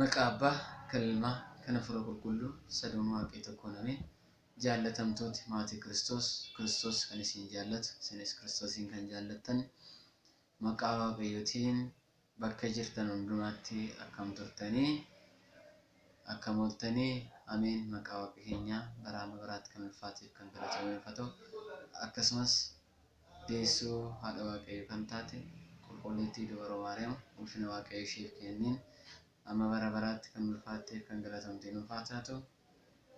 Maqaa Abbaa, kan Ilmaa, kan Hafuura Qulqulluu, Saduun Waaqii Tokkoon Ameen. Jaallatamtooti Maatii Kiristoos, Kiristoos kan isiin jaallatu, isinis Kiristoosiin kan jaallattan, Maqaa Waaqayyootiin bakka jirtan hundumaatti akkam turtanii? Akkam ooltanii? Ameen! Maqaa Waaqa keenyaa bara amma baraatti kan ulfaateef kan galatoomee nuuf haa ta'u. Akkasumas Deessuu Haadha Waaqayyoo kan taate Qulqulliittii Dubroo Maariyaam ulfina Waaqayyo isheef keenneen amma bara baraatti kan ulfaatteef kan galatomtee nuuf haa taatu.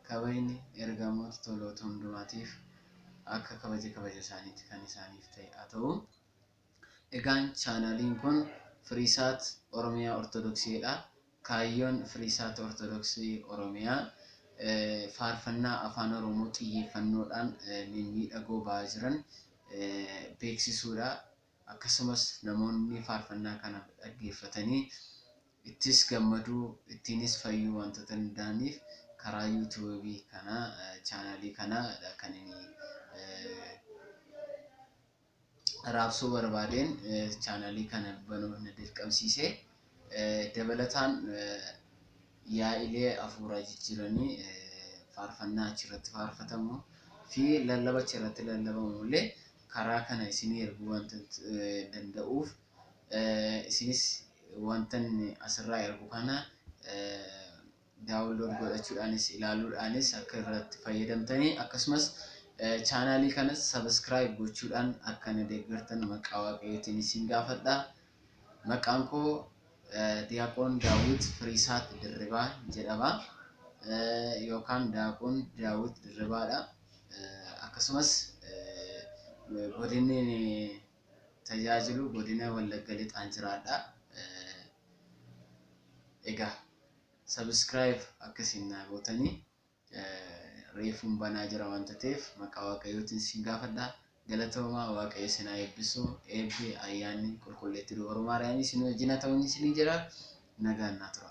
Kabajni Ergamoota toloota hundumaatiif akka kabaja kabaja isaaniitti kan isaaniif ta'e haa ta'u. Egaan chaanaaliin kun Firiisaat Oromiyaa Ortodoksii dha. Kaayyoon Firiisaat Ortodoksii Oromiyaa faarfannaa Afaan Oromoo xiyyeeffannoodhaan mimmiidhagoo ba'aa jiran beeksisuudha. Akkasumas namoonni faarfannaa kana dhaggeeffatanii ittis gammaduu, ittiinis fayyuu waantota danda'aniif karaa YouTube kanaa, channel kanaa dha kan inni raabsuu barbaadeen chaanalii kana banuuf na dirqamsiise. Dabalataan yaa'ilee hafuuraa jijjiiranii faarfannaa achirratti faarfatamu fi lallaba achirratti lallabamu illee karaa kana isinii erguu wanta danda'uuf isinis wantan asirraa ergu kana Download godhachuudhaanis ilaaluudhaanis akka irratti fayyadamtanii akkasumas chaanaalii kanas subscribe gochuudhaan akka na deeggartan maqaa waaqayyootiin isin gaafadha. Maqaan koo Diyaaqoon Daawwit Firiisaat Dirribaa jedhama yookaan Daaqoon Daawwit Dirribaadha. Akkasumas godinni tajaajilu godina Wallagga Lixaan jiraadha. Egaa. subscribe akka isin naa gootani reefuun banaa jira waan tateef maqaa waaqayyootiin isin gaafadha galatoomaa waaqayyo isin haa eebbisu eebbi ayyaanni qulqulleetti dubaru maariyaamii isin wajjin haa ta'uun isin jira nagaan naa tura.